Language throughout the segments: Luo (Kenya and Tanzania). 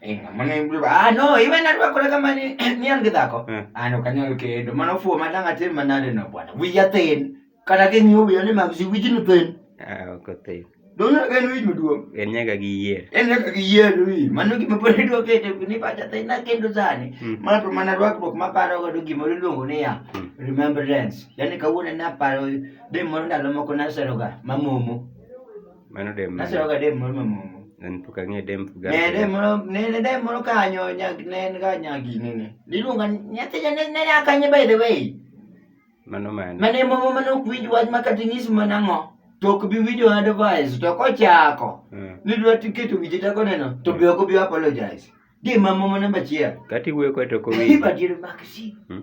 inga mane mbuba ah no iwe na rwa kore kama ni ni ange dako Eh. ano kanyo ke ndo mano fu matanga te manare no bwana wi ya ten kana ke nyu wi ne ma si wi jinu ten Ah, ok othith. do na ke wi muduo En nyaka gi yier. en ne ka ye wi mano ki mapore do ke te ni pa ta na ke ndo zani Mm. ma to mana rwa ko ma paro go do gi mo luongo ni ya Mm. remembrance yani kawuono na paro de mo ndalo moko na seroga mamomo Mano dem. Nasiro ga dem moro mamomo. An pok ang'e dem Ne gani. dem moro ne ne dem moro kanyo nyag ne en ga nyagi ne ne. Niluonga nyathi ne ne ne akanye by the way. Mano mano. Mane momo mane ok winj wach ma kata inyis mana ang'o. To ok bi winjo advice to kochako. Ah. Nidwa tiketo wije tako neno to be ok bi apologize. Dem mamomo namba achiel. Kati wuoyo kode to ok owinjo. Ibadiro makisi. Hmm?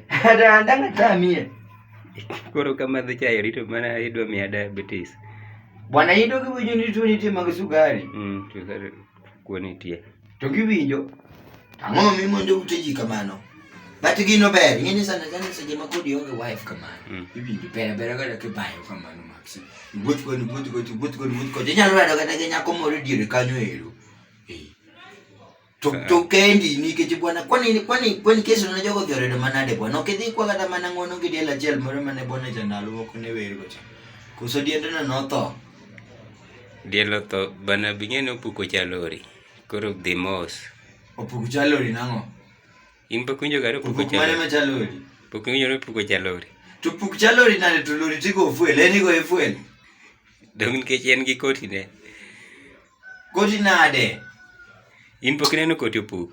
Atandanga tamie. Koro kama dhi chayo rito mana idwa miya diabetes. Bwana ido kiwinjo ni tuo nitie mag sukari. Mm, sukari kuo nitie. To kiwinjo ang'o ma mimonjo ute ji kamano? But gino ber, ing'e ni sana sana seche ma kodi onge wife kamano. Mm. Iwinjo pera pera kata kibayo kamano max. Iwuoth koni, iwuoth koni, iwuoth koni, iwuoth koni. Inyalo rado kata gi nyako moro e diere kanyo ero. To to kendi nikech bwana kwani kwani kwani kesi na jogo dhi oredo manade bwana ok idhi kwa kata mana ngono gi diel achiel moro mane bwana cha ndalo moko ne wer go cha. Koso diendno notho. Diel otho bana bing'e ne opuko chalori. Koro dhi mos. Opuko chalori nang'o? In pok winjo gari opuko chalori. Mane ma chalori? Pok winjo ne opuko chalori. To puk chalori nade to lori tigo ofuel, en igo efuel. Dong nikech en gi koti ne. Koti nade? In pok ineno koti opuk.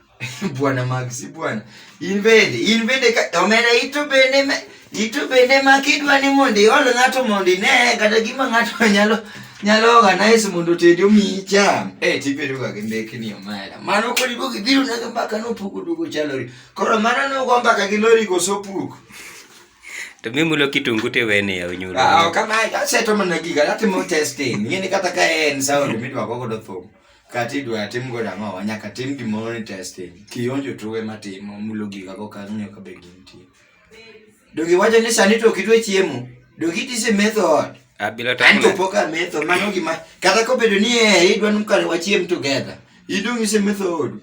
bwana mag si bwana. In bende, in bende ka omera ito bende me, ito bende ma kidwa ni mondo iol ng'ato mondo ine kata gima ng'ato nyalo nyalo organize mondo otedi omiyi cham. Eh tibedo ga gi mbekni omera. Mano kodi duogo ibiro nega mbaka nopuko duogo chalori. Koro mano nogo mbaka gi lori koso puk. To mi mulo kitungu te wene ya unyulo. Ah, kama aseto mana giga atimo testing. Ngini kata ka en sound midwa go godo thum. Kati dwa tim go dama wanya ka tim gi mono testing. Kionjo tuwe matimo mulo giga go ka nyo ka be gintie. Dogi wacho ni sani to kitwe chiemo. Dogi tise method. Abila ah, ta. Anto poka method mano gima kata ko bedo ni eh idwa nukare wachiem together. Idung ise method.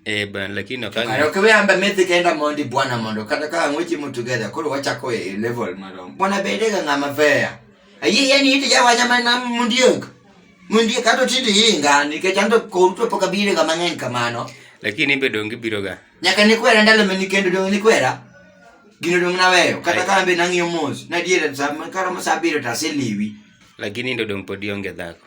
Eh bwana lakini okang. Kare ok we amba methi kenda mondi bwana mondo kata ka ng'wechi mu together koro wachako e level marom. Bwana bede ga ng'ama fair. Ayi yani ite ya wanya mana mundiok. Mundiok kato tindi yinga nikech ando konto poka bire ga mang'eny kamano. Lakini ibe dongi biro ga. Nyaka ni kwera ndalo mani kendo dongi ni kwera. Gino dongi na weyo. Kata ka ambe nang'iyo mos. Na diere sa karo masabiro taseliwi. Lakini ndo dongi podi onge dhako.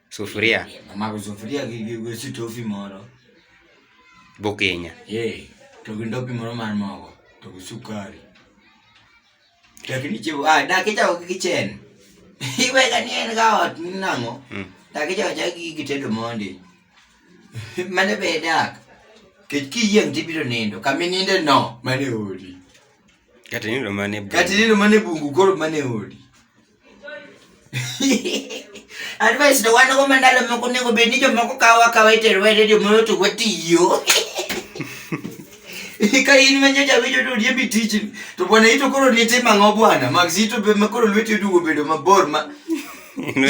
Sufuria. Amako sufuria gi gi gi sitofi moro. Bukinya. Eh, to gi ndopi moro mar mogo, to gi sukari. Lakini chiwo, ah, dakika ok kichen. Iweka ni en ga ot ni nang'o? Mm. Dakika cha gi gi tedo mondi. Mane be dak. Kech kiyieng tibiro nindo, kami ninde no, mane odi. Kati nindo mane bu. Kati nindo mane bungu koro mane odi. advice to wan go mandalo moko nego bed ni jomoko kawo akawa iterowa e redio moyo to watiyo ka in manyocha winjo to riembi tijni to bwana ito koro nitimo ang'o bwana max ito be ma koro lweti odugo bedo mabor ma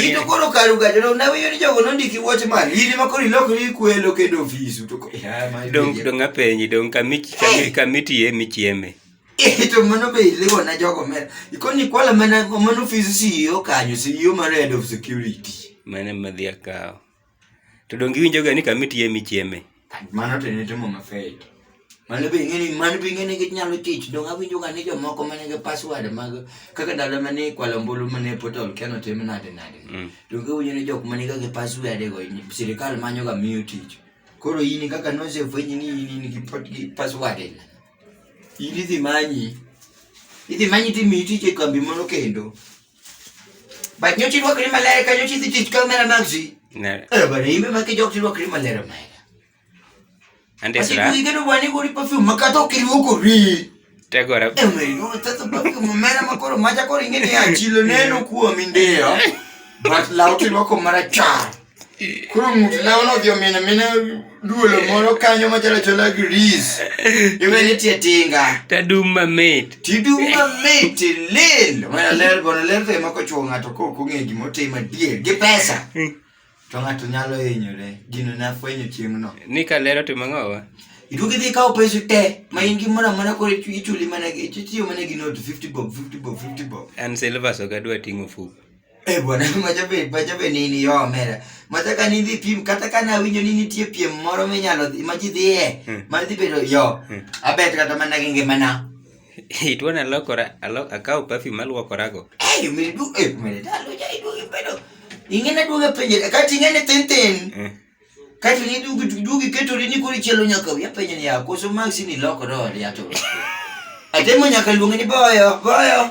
ito koro karu gajo to nawinjo ni jogo nondiki watchman in ma koro ilokri kwelo kendo ofisu to ko- Ya, ma- dong dong apenji dong kamiti kamiti ye michieme Eh, to mano be iliwo na jogo mer. Ikoni kwala mana mano ofis CEO kanyo, CEO mar head of security. Mane madhi akawo. To donge iwinjo ga ni kama itiye michieme? Mano to ne timo mafei. Mano be ing'eni, mano be ing'eni ginyalo tich. Donge awinjo ga ni jomoko mane gi password mag kaka ndalo mane ikwalo ombulu mane portal keno tim nade nade. Mm. Donge awinjo ni jok mane ga gi password go sirikal manyo ga miyo tich. Koro in kaka nosefwenyi ni in in gi pot- gi password ila. In idhi manyi. Idhi manyi ti mi tich e kambi moro kendo. But nyocha irwakri maler ka nyocha idhi tich ka omera mag ji. Ne. Eh, bana imbe ma kijok tirwakri maler omera. Ande Ati sura. kuigeno bwana igori perfume makata ok irwakori. Tegora. Eh, omera iluongo thetho perfume omera ma koro macha koro ing'e ni achilo neno kuomi ndiyo. But law tirwako marachar. Koro ng'ut lawno odhi omina mina duolo moro kanyo machalo chola gris. Iwe ni tie tinga. Tadum mamit. Tidum mamit lil. Mana ler gono ler to emako chuo ng'ato ko kong'e gima otimo adier gi pesa. Hmm. To ng'ato nyalo hinyore. Gino ne afwenyo chieng'no. Ni ka ler otimo ang'owa? Iduogi dhi kawo pesa te ma in gi mora mana koro ichuli mana itiyo mana gi note 50 bob 50 bob 50 bob. An silver so gadwa ting'o fuko. Eh bwana, majabe majabe nini yo omera. Mataka ni dhi pim kata kana awinjo ni nitie piem moro minyalo dhi- ma ji dhiye Hmm. ma dhi bedo yo. Hmm. Abet kata mana gi ngimana. Itwana alokora, alo, akawo perfume aluokorago. Eh, umiri du eh umiri dalo ja idu ibedo. Ingena duga penje kati ingene tenten. Eh. Kati ni dugi dugi ketori ni kuri chelo nyaka ya penje ni ya koso maxi ni loko do ya to. Atemo nyaka luonge ni boyo, boyo.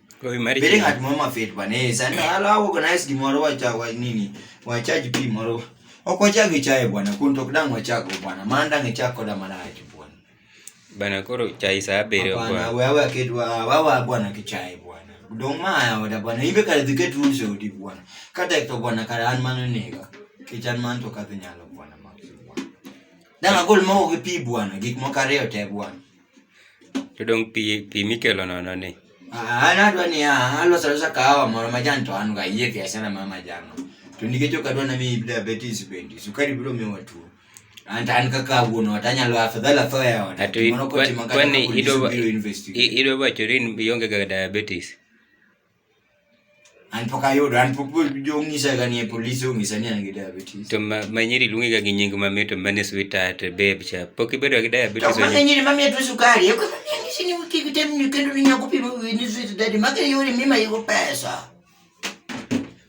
Kwa hiyo marriage. Bila ngati mama fit bana. Eh, sana ala au organize gimoro wa cha wa nini? Wa charge pi moro. Oko chage chae bwana, kunto kdango chako bwana. Manda ngechako da maraji bwana. Bana koro chai saa bere bwana. Bwana wewe akidwa wawa bwana kichai bwana. Dongmaya wada bwana. Ibe kale diketu nse odi bwana. Kata ekto bwana kale anmano nega. Kichan man to kathinyalo bwana. Dang agol mo gi pi bwana, gik moko ariyo te bwana. To dong pi pi mikelo nono ni. Ah, an adwa ni ah, aloso alosa kahawa moro majan to an ga yie gi asana ma majan. no. To nikech ok adwa na mi diabetes bende, sukari biro miyo watuo. An to an kaka wuon ot anyalo afadhali atho e ot. Atu Moro kotima kata kwani police idwa biro investigate. i- idwa wacho ni ionge ga diabetes. An pok ayudo, an pok jong'isa ga ni e polis ong'isa ni an gi diabetes. To ma, ma nyiri luongi ga gi nying mamit to mane sweetheart, babe cha. Pok ibedo gi To diabetes mago onye. nyiri mamiyo tuo sukari, eko mamiyo ng'isi ni kik item ni kendo ni nyako pimo wiyi ni sweet daddy, mago e yore mimayigo pesa.